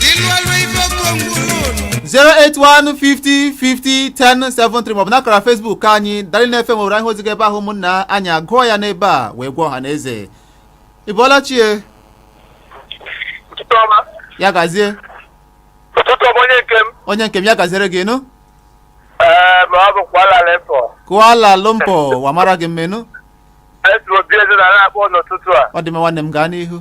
ilu ọlụ ife okwu ngwụlụ ụlọ 08150501073 maọbụ n'akara Facebook anyị Darling FM Owerri anyị hụ ozi gị ebe ahụ ụmụnna anyị agụọ ya n'ebe a wee gwa ọha na eze ị bọọla chie ụtụtụ ọma ya gazie ụtụtụ ọma onye nke m onye nke m ya gaziere gị nụ ee ma ọ bụ Kuala Lumpur Kuala Lumpur wamara gị mmenụ esi obi eze na na-akpọ n'ụtụtụ a ọ dị mma nwanne m gaa n'ihu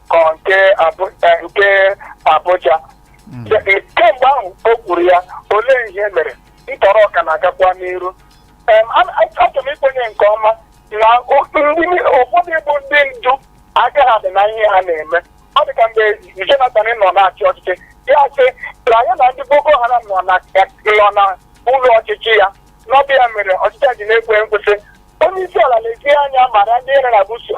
ka ọ nke Abu- eh, nke Abuja De- kemgbe ahụ o kwuru ya olee ihe mere ntọrọ ọ ka na-agakwa n'iru Em, a- a- achọrọ m ikwenye nke ọma na o- ndị ni- ụfọdụ bụ ndị ndu aka ha dị na ihe ha na-eme ọ dị ka mgbe Jonathan nọ na-achị ọchịchị ya sị na ya na ndị Boko Haram nọ na nọ na ụlọ ọchịchị ya na ọ bụ ya mere ọchịchị a ji na-ekwe nkwụsị onye isi ala lezie anya mara ndị iro na-ebuso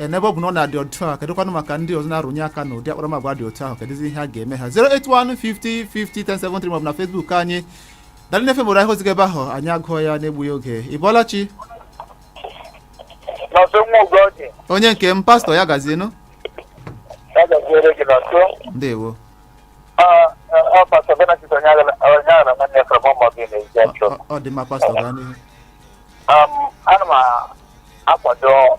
ee n'ebe ọ bụ na ọ na-adị otu a kedụkwanụ maka ndị ọzọ na-arụnye aka na ụdị akparamagwa dị otu ahụ kedụzi ihe a ga-eme ha 08150501073 maọbụ na Facebook anyị Darling FM Owerri a hụ ozi gị ebe ahụ anyị agụọ ya n'egbughị oge ị bọọla chi Nọnsọ nwa ugo oge onye nke m pastọ ya gazienụ ya gaziere gị Nọnsọ ndewo ọ pastọ benedict Onyeaghara nwanne from ọmọgị na ezi achọ Ọ- ọ dị mma pastọ gaa n'ihu ana m akwado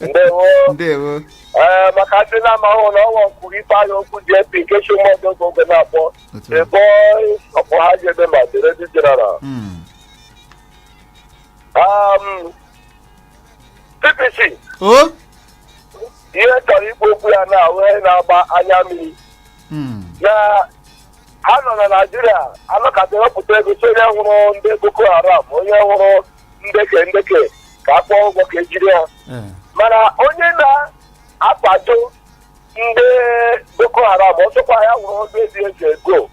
ndewo ndewo ee maka ndị na-amahụ na ọnwa kwuru Ifeanyi Okwu JP nke chi mmadụ oge oge na-akpọ otu a. the voice of Ohaji Egbema the radio general Mm. Um, CPC o ihe chọrọ ikwu okwu ya na ọ wụ ihe na-agba anya mmiri Mm. na ha nọ na naijiria anọkata wepụta ego sị onye hụrụ ndị boko haram onye hụrụ ndeke ndeke ka a kwụọ ụgwọ ka e jiri ha Eh, mana onye na-akwado ndị boko haram ọsọkwa ya wụrụ ọdụ ezi eze ego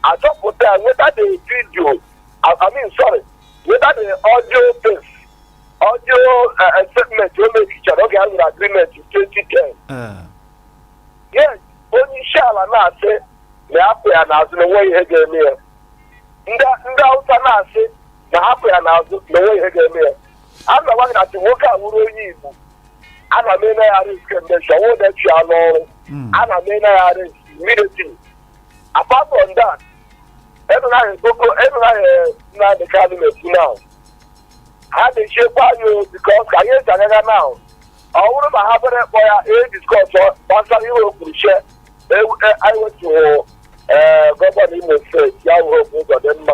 a chọpụta ya nweta the video I I mean sorry nweta the audio tape audio eh, eh, statement o mechichara oge a nwere agreement 2010 eh, yes onye isi ala na-asị na ya kwụ ya n'azụ na enweghị ihe ga-eme ya ndị ndị awụsa na-asị na ha kwụ ya n'azụ na o nweghị ihe ga-eme ya a na m agwa gị na sị nwoke a wụrụ onye igbo a na m eme ya arrest kemgbe chi ọnwa ụda chụ ya n'ọrụ a na m eme ya arrest immediately apart from that emenaghị boko ihe Maazị Nnamdi Kanu na-ekwu now ha na-echekwa anyị o because ka anyị eji agaga now ọ bụrụ ma ha bere kpọ ya discuss gbasara ihe o kwuru che anyị wetughị gọvanọ imo steeti ya wụrụ Hope Ụzọdịmma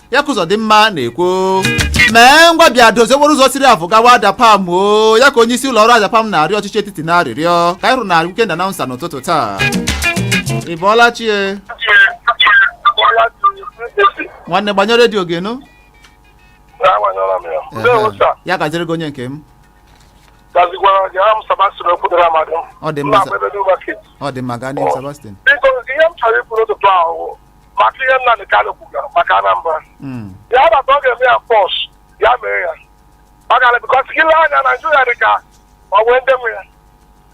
ya ka Ụzọdịmma na-ekwu mee ngwa bịa dozie okporo ụzọ siri Avu gawa Adapalm ọ ya ka onye isi ụlọ ọrụ Adapalm na-arịọ ọchịchị etiti n'arịrịọ ka anyị hụrụ na Weekend Announcer n'ụtụtụ taa ị bọọla chi e? nwanne gbanyụọ redio gị nụ Agbanyụọla m ya. Ndewo sa. ya gaziri gị onye nke m Gazikwara gị aha m Sebastian Okwudere Amadi. Ọ dị mma, Nna sa. Agbebe New Market. ọ dị mma gaa n'ihu Sebastian Biko, ihe m chọrọ ikwu n'ụtụtụ a wụ maka ihe Nnamdị Kanu kwugara maka Anambra Mm. ya bata ọ ga-eme ya pọs ya mee ya maka na because gị lee anya naijiria dị ka ọ nwee ndị nwe ya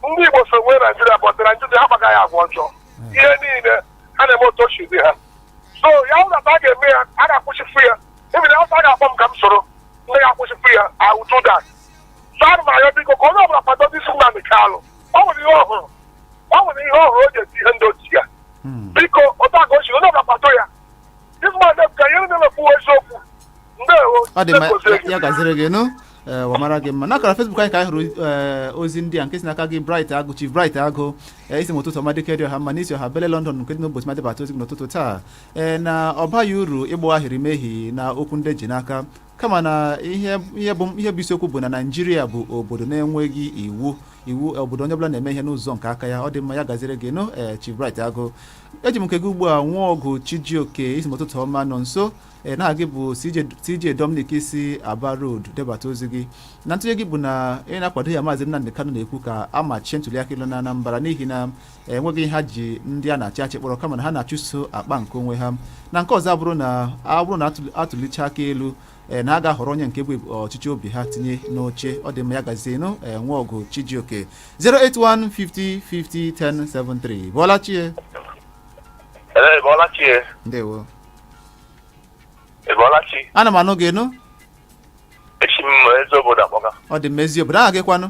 ndị igbo so nwee naijiria but naijiria akpaga ha agwa ọjọọ ihe niile ha na-eme otu o si dị ha so ya wụ na a ga-eme ya a ga-akwụsịfu ya even if a ga-akpọ m ka m soro ndị ga-akwụsịfu ya I will do that so ana m arịọ biko ka onye ọbụla kwado ndị si Nnamdị Kanu o nwere ihe ọ hụrụ o nwere ihe ọ hụrụ o ji eti ihe ndị otu ya Hmm. biko otu a ka o si onye ọbụla kwado ya this man dem ka ihe ndị na-ekwu eziokwu ndewo ọ dị mma Ndewo, ya- ya gaziri gị nụ ee ụwa mara gị mma n'akara Facebook anyị ka anyị hụrụ ee, ozi ndị a nke si n'aka gị bright agụ chief bright agụ ee, ị sị m ụtụtụ ọma dike dị ọha mma na i si ọha bele london nke dị n'ụbọchị ma debata ozi gị n'ụtụtụ taa ee na ọ baghị uru ịgba ahịrị mehi na okwu ndị ji n'aka kama na ihe ihe bụ ihe bụ isiokwu bụ na naijiria bụ obodo na-enweghị iwu iwu obodo onye ọbụla na-eme ihe n'ụzọ nke aka ya ọ dị mma ya gaziri gị nụ ee Chief Bright Agụ eji m nke gị ugbu a Nwọgụ Chijioke ị sị m ụtụtụ ọma Nọnso ee na gị bụ CJ CJ Dominic i si Aba Road debata ozi gị na ntụnye gị bụ na ị na-akwado ihe maazị Nnamdi Kanu na-ekwu ka a machie ntuliaka elu na Anambra n'ihi na enweghị ihe ha ji ndị a na-achị achị kpọrọ kama na ha na-achụso akpa nke onwe ha na nke ọzọ abụrụ na abụrụ na a tụlicha aka elu eh, na a ga-ahọrọ onye nke bụ ọchịchọ obi ha tinye n'oche ọ dị mma ya gazienụ eh, Nwọgụ chijioke 08150501073 bọọla chi e Ee, bọọla chi e. ndewo Ị bọọla chi. ana m anụ gị nụ Esi m Eziobodo akpọga. ọ dị mma Eziobodo aha gị kwanụ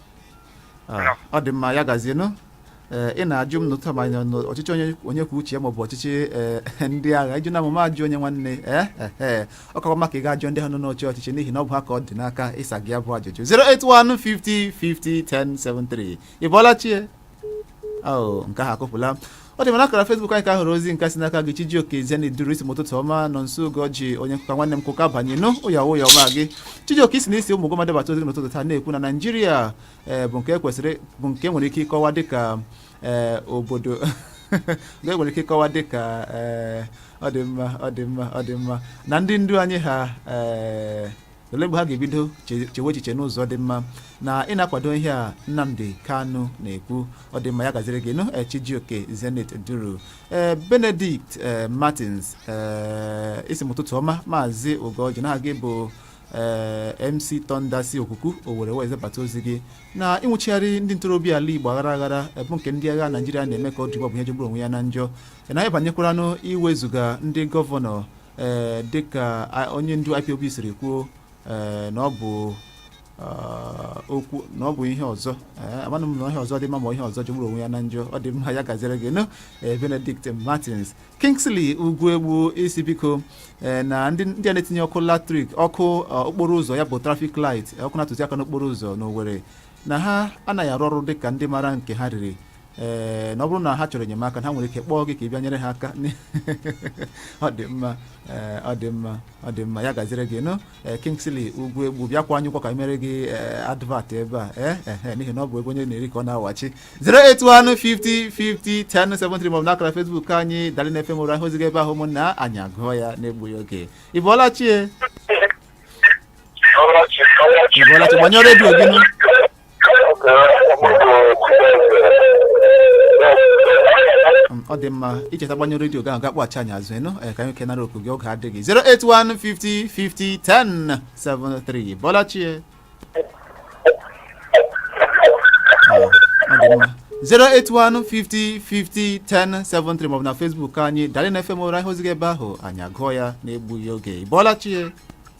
Ah, ọ dị mma ya gazie nụ Ee, ị na-ajụ m n'ụtụtụ ma anyị nọ n'ọchịchị onye onye kwuo uche ya maọbụ ọchịchị ee, ndị agha ị jụọna m mụ ajụ onye nwanne ee ee ọ kakwa mma ka ị ga-ajụ ndị ha nọ n'oche ọchịchị n'ihi na ọ bụ ha ka ọ dị n'aka ịsa gị ya bụ ajụjụ 081 50 50 1073 ị bọọla chie ahụ nke ahụ akụpụla ọ dị mma n'akara Facebook anyị ka a hụrụ ozi nke si n'aka gị Chijioke Eziani Duru ị sị m ụtụtụ ọma Nọnso Ugọjị onye nkụka nwanne m kụka banye nụ ụya ụya ọma gị Chijioke ị sị na i si Ụmụguma debata ozi gị n'ụtụtụ taa na-ekwu na Naịjirịa eh, bụ nke kwesịrị bụ nke nwere ike ịkọwa dịka eh, obodo nke nwere ike ịkọwa dịka eh, ọ dị mma ọ dị mma ọ dị mma na ndị ndu anyị ha eh, ole mgbe ha ga-ebido che- chewe echiche n'ụzọ dị mma na ị na-akwado ihe a nnamdi kanu na-ekwu ọ dị mma ya gaziri gị nụ eh, chijioke zenith duru ee benedict eh, martins ee ị sị m ụtụtụ ọma maazị ugoji na aha gị bụ ee mc tonda si okuku owere wee zebata ozi gị na ịnwụchigharị ndị ntorobịa ala igbo aghara aghara eh, bụ nke ndị agha naijiria na-eme ka ọ dị ugbu a bụ ihe jọgburu onwe ya na njọ na anyị banyekwaranụ iwezuga ndị gọvanọ ee dịka a- onye ndu ipob siri kwuo ee, na ọ bụ ah, okwu na ọ bụ ihe ọzọ Ee, amanụ m na ihe ọzọ dị mma ma ihe ọzọ jọgburu onwe ya na njọ ọ dị mma ya gaziere gị nụ ee, benedict martins kingsley ugwuegbu ị sị biko ee, na ndị ndị a na-etinye ọkụ latrik ọkụ ah, okporo ụzọ ya bụ traffic light ọkụ na-atụzi aka n'okporo ụzọ n'owere na ha anaghị arụ ọrụ dịka ndị mara nke ha riri ee na ọ bụrụ na ha chọrọ enyemaka ha nwere ike kpọọ gị ka ị bịa nyere ha aka ọ dị mma ee ọ dị mma ọ dị mma ya gaziri gị nụ ee Kingsley Ugwuegbu bịa kwụọ anyị ụgwọ ka anyị meere gị ee advert ebe a ee ehe n'ihi na ọ bụ ebe onye na-eri ka ọ na-awachi 08150501073 maọbụ n'akara Facebook anyị Darling FM Owere hapụ ozi gị ebe ahụ ụmụnna anyị agụọ ya na-egbughị oge ị bọọla chi ị bọọla chi gbanyụọ redio gị nụ ọ dị mma i cheta gbanyụọ redio gị ahụ gị akpọghachi anyị azụ ịnụ ka anyị kenara oku gị oge adịghị 08150501073 ị bọọla chi ọ dị mma 08150501073 maọbụ na Facebook anyị Darling FM Owere hapụ ozi gị ebe ahụ anyị agụọ ya na-egbughị oge ị bọọla chi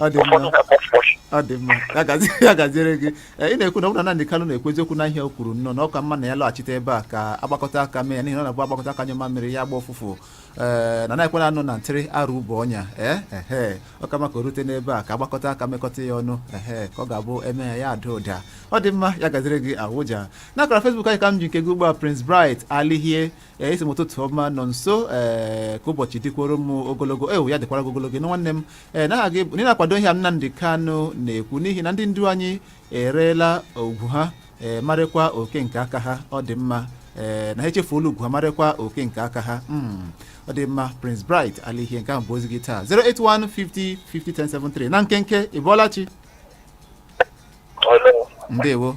ọ dị mma ụfọdụ na kpọfkpọch ọ dị mma ya gazi- ya gaziere gị Ee, ị na-ekwu na ọ bụrụ na Nnamdi Kanu na-ekwu eziokwu na ihe o kwuru nnọọ na ọ ka mma na ya lọghachite ebe a ka agbakọta aka mee ya n'ihi na ọ na-abụ agbakọta aka nyụọ mamịrị ya agba ụfụfụ ee na na-ekwela anọ na ntịrị arụ ụbọ ọnya ee ehe ọ ka mma ka o rute n'ebe a ka agbakọta aka mekọta ya ọnụ ehe ka ọ ga-abụ e mee ya ya ada ụda ọ dị mma ya gaziri gị awụja n'akara Facebook anyị ka m ji nke gị ugbu a Prince Bright Alihie ee ị sị m ụtụtụ ọma Nonso ee ka ụbọchị dịkwara m ogologo ewu ya dịkwara gị ogologo ịnụ nwanne m ee na aha gị bụ- na ị na-akwado ihe a Nnamdi Kanu na-ekwu n'ihi na ndị ndu anyị ereela ugwu ha ee ma rekwa oke nke aka ha ọ dị mma ee na ha echefuola ugwu ha ma rekwa oke nke aka ha Mm, ọ dị mma Prince Bright Alihie nke ahụ bụ ozi gị taa 08150501073 na nkenke ị bọọla chi ndewo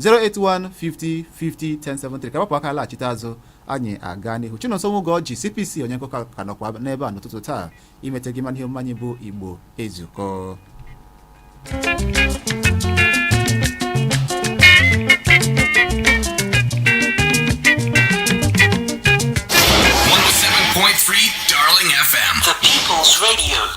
08150501073 ka gbapụ aka laghachite azụ anyị agaa n'ihu Chinonso Nwugoji CPC onye nkụkọ ka nọkwa n'ebe a n'ụtụtụ taa imete gị mana ihe omume anyị bụ Igbo ezukọ Darling FM, the People's Radio.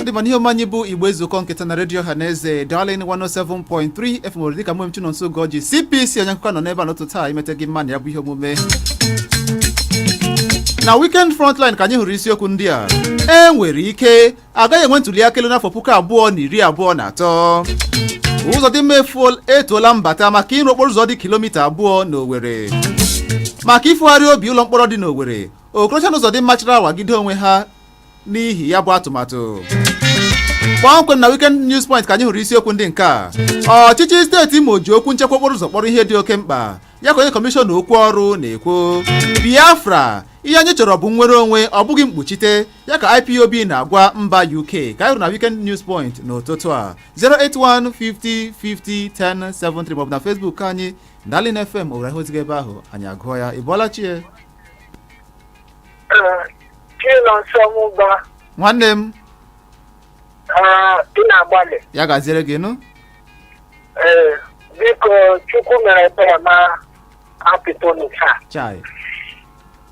ọ dị mma n'ihe omume anyị bụ igbo ezukọọ nke taa na redio ọha na eze darlin 107.3 fm Owerri dịka mụ bụ Chinonso Ugọji cpc onye nkụkọ nọ n'ebe a n'ụtụtụ a imeta gị mma na ya bụ ihe omume na weekend frontline ka anyị hụrụ isiokwu ndị a e nwere ike a gaghị enwe ntuli aka elu n'afọ puku abụọ na iri abụọ na atọ Ụzọdịmma efu- etoola Mbata maka ịrụ okporo ụzọ dị kilomita abụọ n'Owerri maka ibugharị obi ụlọ mkpọrọ dị n'Owerri Okorocha na Ụzọdịmma chara awagide onwe ha n'ihi ya bụ atụmatụ kpọmkwem na Weekend News Point ka anyị hụrụ isiokwu ndị nke a ọchịchị steeti Imo ji okwu nchekwa okporo ụzọ kpọrọ ihe dị oke mkpa ya ka onye kọmishọna okwu ọrụ na-ekwu Biafra ihe anyị chọrọ bụ nnwere onwe ọ bụghị mkpuchite ya ka ipob na-agwa mba uk ka anyị hụrụ na weekend news point n'ụtụtụ a 08150501073 maọbụ na facebook anyị darlin fm owere ihe i ziga ebe ahụ anyị agụọ ya ị bọọla chi e Chinonso Mụba, nwanne m ị na-agbalị. ya gaziere gị nụ Ee, biko Chukwu mere ebere ma apịtonu taa. chai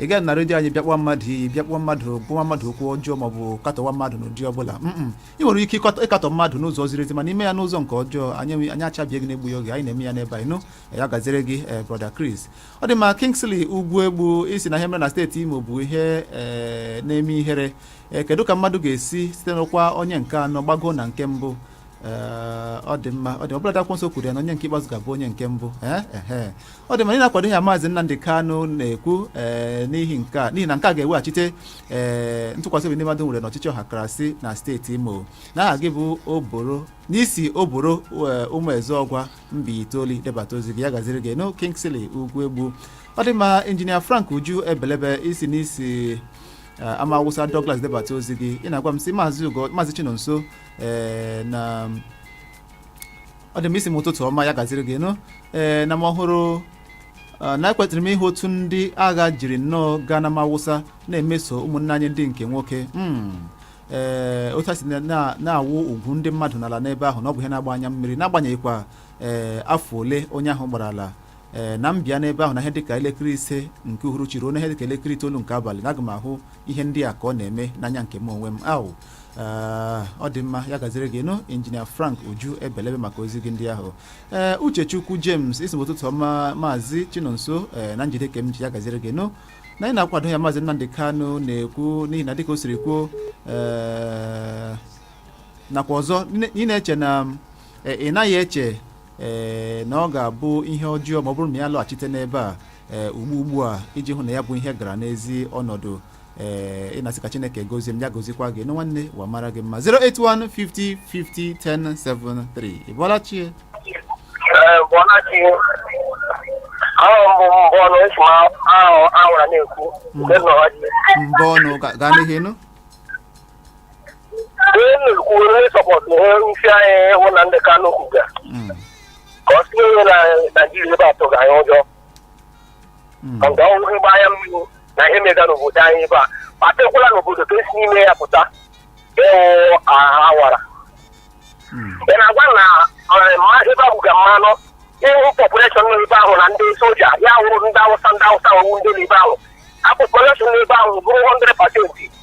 ị gaghị na redio anyị bịa kpọwa mmadụ iyi bịa kpọwa mmadụ gwawa mmadụ okwu ọjọọ maọbụ katọwa mmadụ n'ụdị ọbụla mm ị nwere ike ịkọtọ- ịkatọ mmadụ n'ụzọ ziri ezi mana ime ya n'ụzọ nke ọjọọ anyị enwe- anyị achabie gị n'egbughị oge anyị na-eme ya n'ebe anyị nọ ya gaziere gị eh, brother Chris ọ dị mma Kingsley Ugwuegbu ị sị na ihe mere na steeti Imo bụ ihe eh, na-eme ihere Eh, kedu ka mmadụ ga-esi site n'ọkwa onye nke anọ gbago na nke mbụ Ee, ọ dị mma ọ dị ọbụla akwụkwọ nsọ kwuru ya na onye nke ikpeazụ ga-abụ onye nke mbụ Ee, ehe. ọ dị mma ị na-akwado ihe a maazị Nnamdị Kanụ na-ekwu ee, n'ihi nke a n'ihi na nke a ga-eweghachite ee, ntụkwasị obi ndị mmadụ nwere n'ọchịchị ọhakarasị na steeti Imo na aha gị bụ oboro na i si Oboro ee, Ụmụezeọgwa Mbaitoli debata ozi gị ya gaziere gị nụ Kingsley Ugwuegbu ọ dị mma injinia Frank Uju ebelebe ị sị na i si Ee, ama awụsa Douglas debata ozi gị ị na-agwa m sị maazị ugo maazị chinonso ee na ọ dị m ị sị m ụtụtụ ọma ya gaziere gị nụ ee na mụ hụrụ a, na ekwetara m ihe otu ndị agha jiri nnọọ gaa n'Ama Awụsa na-emeso ụmụnne anyị ndị nke nwoke Mm. ee otu a si na- na- na-awụ ugwu ndị mmadụ n'ala n'ebe ahụ na ọ bụ ihe na-agba anya mmiri n'agbanyeghịkwa ee afọ ole onye ahụ gbarala ee na m bịa n'ebe ahụ na ihe dịka elekere ise nke uhuruchi ruo na ihe dịka elekere itoolu nke abalị na aga m ahụ ihe ndị a ka ọ na-eme n'anya nke m onwe m ahụ ọ dị mma ya gaziri gị nụ injinia frank uju ebelebe maka ozi gị ndị ahụ ee uchechukwu james ị sị m ụtụtụ ọma maazị chinonso ee na m jide ka m ji ya gaziri gị nụ na anyị na-akwado ihe maazị nnamdị kanụ na-ekwu n'ihi na dịka o siri kwuo ee nakwa ọzọ ị na-eche na ị naghị eche ee na ọ ga-abụ ihe ọjọọ ma ọ bụrụ na ya lọghachite n'ebe a ee ugbu ugbu a iji hụ na ya bụ ihe gara n'ezi ọnọdụ ee ị na-asị ka chineke gozie m ya gozikwa gị nụ nwanne ụwa mara gị mma 08150501073 ị bọọla chi e Ee, ị bọọla chi, aha m bụ mbọnụ esi m awara na-ekwu nke nọ n'ọhaji. mbọnụ ga- gaa n'ihu nụ Ihe m na-ekwu onye sọpọtụ ihe nsi anyị ịhụ Nnamdị Kanu kwuga Mm. ka ọ tinye onye na Naijiria ebe a tụga anyị ụjọ Mm. ka nke ọhụrụ ịgba anya mmiri na ihe mega n'obodo anyị ebe a kpatekwala n'obodo ka esi n'ime ya pụta wụ awara Mm. ị na-agwa na eh, mma- ebe ahụ ga mmanụ ịhụ population nọ ebe ahụ na ndị soja ya wụrụ ndị awụsa ndị awụsa wụrụ ndị nọ ebe ahụ a population nọ ebe ahụ bụrụ 100 percent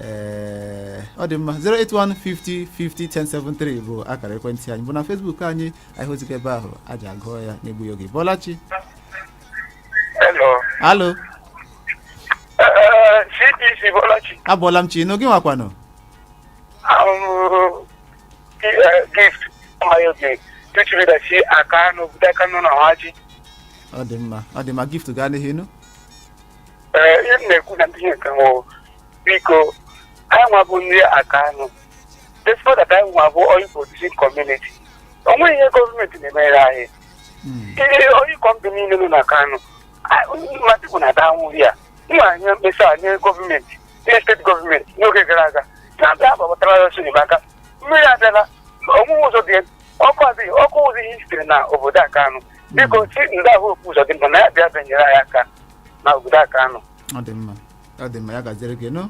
ee ọ dị mma 08150501073 bụ akara ekwentị anyị bụ na Facebook anyị anyị hụzikwa ebe ahụ anyị agụọ ya n'egbughị oge ị bọọla chi Hello. alo Eh, CPC ị bọọla chi. abọọla m chi nụ gị nwa kwanụ I'm uh, gift. My okay. Tuchiri da shi Akanụ, obodo Akanụ na Ọhaji. ọ dị mma ọ dị mma gift gaa n'ihu nụ Ee, ihe m na-ekwu na ndị ihe nke nwụrụ biko anyị nwa bụ ndị akanụ despite that anyị nwa bụ oil producing community o nweghị ihe gọọmenti na-emere anyị ihe oil company niile nọ n'akanụ mmadụ bụ na danwụ ya nwa anya mkpesa nye gọọmenti nye steeti gọọmenti n'oge gara aga na-abịa agbabatara anyị ọsọ enyemaka mmiri abịala o nweghị ụzọ dị ọkụ adịghị ọkụ ụzọ ihe sitere na obodo akanụ biko senator hope ụzọdịmma na ya bịa bịa nyere anyị aka na obodo akanụ ọ dị mma ọ dị mma ya gaziere gị nụ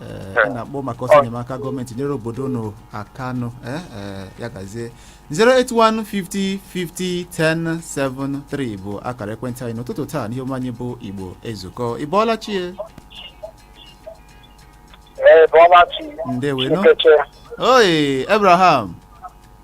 Ee, ị na-akpọ maka ọsọ enyemaka gọọmenti nyere obodo unu aka nụ ee, ee, ya gazie 08150501073 bụ akara ekwentị anyị n'ụtụtụ taa n'ihe omume anyị bụ igbo ezukọ ị bọọla chi e ee bọọla chi ndewe nụ nkeche oyi abraham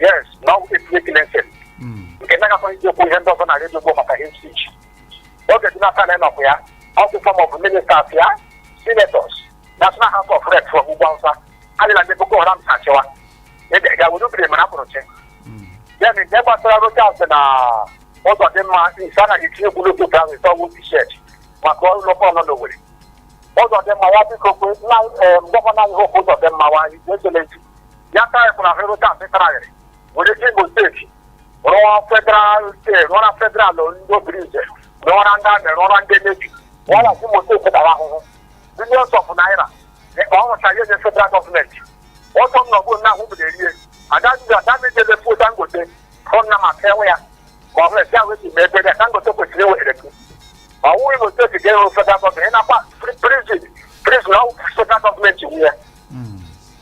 yes na ọ bụ etinye kilese Mm. nke na-agakwa iji okwu ihe ndị ọzọ na redio Igbo maka hate speech oge dị n'aka na ịnọkwa ya ọkụ forum of ministers ya senators national house of reps from ugwu awụsa adịla ndị boko haram si achịwa ga were obiri mara pụrụ chi Mm. ya na nke gbasara Rochas na Uzodimma ị sị anaghị etinye okwu n'otu otu ahụ ise ọgwụ t-shirt maka ụlọ fọnụ na Owere Uzodimma ya biko kwe na em, gọvanọ anyị Hope Uzodimma wa anyị ekelezi ya taịpụrụ ahụ rụta mịtaragharị were si Imo steeti rụọ federal steeti rụọra federal ndị Obinze rụọra ndị army rụọra ndị navy rụọra si Imo steeti tara ahụhụ billions of naira ka ọ rụcha ihe nye federal gọọmenti ọtọ m nọgbu nna ahụ bụrụ erie adazi adamijele fuo dangote hụ nna ma ka enwe ya ka ọ hụrụ ya wee ji mee ebere ya dangote kwesịrị iwere gị ma ọ wụghị Imo steeti ga-enwe federal gọọmenti ị na-akpa prison prison ọ federal gọọmenti nwe ya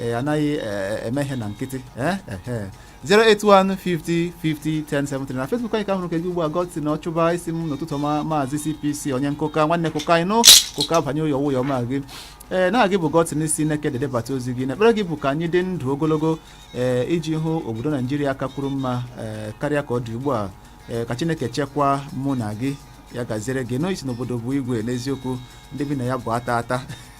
ee anaghị ee, eme ihe na nkịtị ee ehe 08150501073 na Facebook anyị ka hụrụ nke gị ugbu a gọtị na ọchụba ị sị m ụtụtụ ọma maazị CPC onye nkụka nwanne kụka anyị nụ kụka banye ụyọ ụyọ ma gị ee na gị bụ gọtịn i si Nekede debata ozi gị na ekpere gị bụ ka anyị dị ndụ ogologo ee iji hụ obodo naijiria kakwuru mma ee karịa ka ọ dị ugbu a ee ka chineke chekwaa mụ na gị ya gaziere gị na ị sị n'obodo bụ igwe n'eziokwu ndị bi na ya bụ ata ata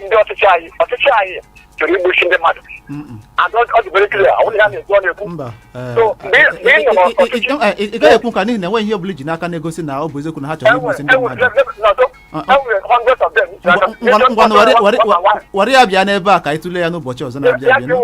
ndị ọchịchị anyị ọchịchị anyị chọrọ igbochi ndị mmadụ Mm-mm. and ọ ọ dị very clear ọ bụrụ na ha na-ekwu ọ na-ekwu mba eh, So, mgbe ị- mgbe ị nọ n'ọchịchị- eh, eh, ị gaghị ekwu nke a n'ihi na enweghị ihe ọbụla iji n'aka na-egosi na ọ bụ eziokwu na ha chọrọ igbusi ndị mmadụ ngwanụ were ya bịa n'ebe a ka anyị tụlee ya n'ụbọchị ọzọ na-abịa abịa nụ.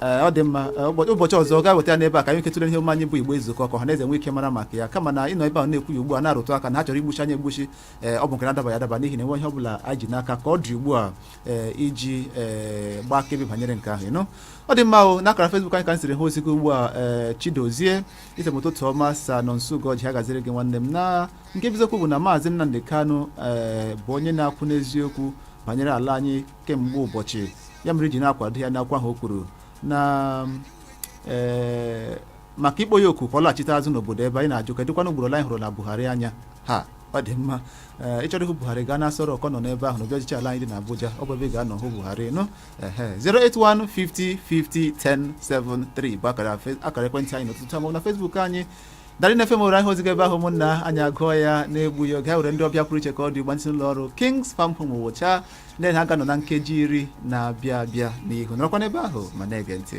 Ee, ọ dị mma Ee, ụbọ- ụbọchị ọzọ ọ ga-eweta ya n'ebe a ka anyị nwee ike tụlee ihe omume anyị bụ Igbo Ezukọọ ka ọha na eze nwee ike mara maka ya kama na ịnọ ebe a na-ekwu ya ugbu a na-arụtụ aka na ha chọrọ igbusi anyị egbusi ee ọ bụ nke na-adabaghị adaba n'ihi na enwe ihe ọ bụla anyị ji n'aka ka ọ dị ugbu a ee iji ee gbaa akaebe banyere nke ahụ ịnụ ọ dị mma o n'akara Facebook anyị ka m siri hụ ozi gị ugbu a ee Chidozie ị sị m ụtụtụ ọma sa Nonso Ugorji ya gaziere gị nwanne m na nke bụ eziokwu bụ na maazị Nnamdi Kanu ee bụ onye na-akwụ n'eziokwu banyere ala anyị kemgbe ụbọchị ya mere i ji na-akwado ya n'okwu ahụ o kwuru na ee maka ịkpọ ya oku ka ọ laghachite azụ n'obodo ebe anyị na-ajụ kedụkwana ugboro anyị hụrụla Buhari anya ha ọ dị mma ee ịchọrọ ịhụ Buhari gaa n'Aso Rock ọ nọ n'ebe ahụ n'obi ọchịchị ala anyị dị n'Abuja ọ bụ ebe ị ga-anọ hụ Buhari nụ ehe 08150501073 bụ akara fe- akara ekwentị anyị n'ụtụtụ a maọbụ na Facebook anyị Darling FM were anyị ozi gị ebe ahụ ụmụnna anyị agụọ ya na-egbughị oge anyị nwere ndị ọbịa pụrụ iche ka ọ dị ugbu a ndị si n'ụlọ ọrụ Kings Farm Home ọ wụcha ndị ha ga-anọ na nkeji iri na-abịa abịa n'ihu nọrọkwa n'ebe ahụ ma na-ege ntị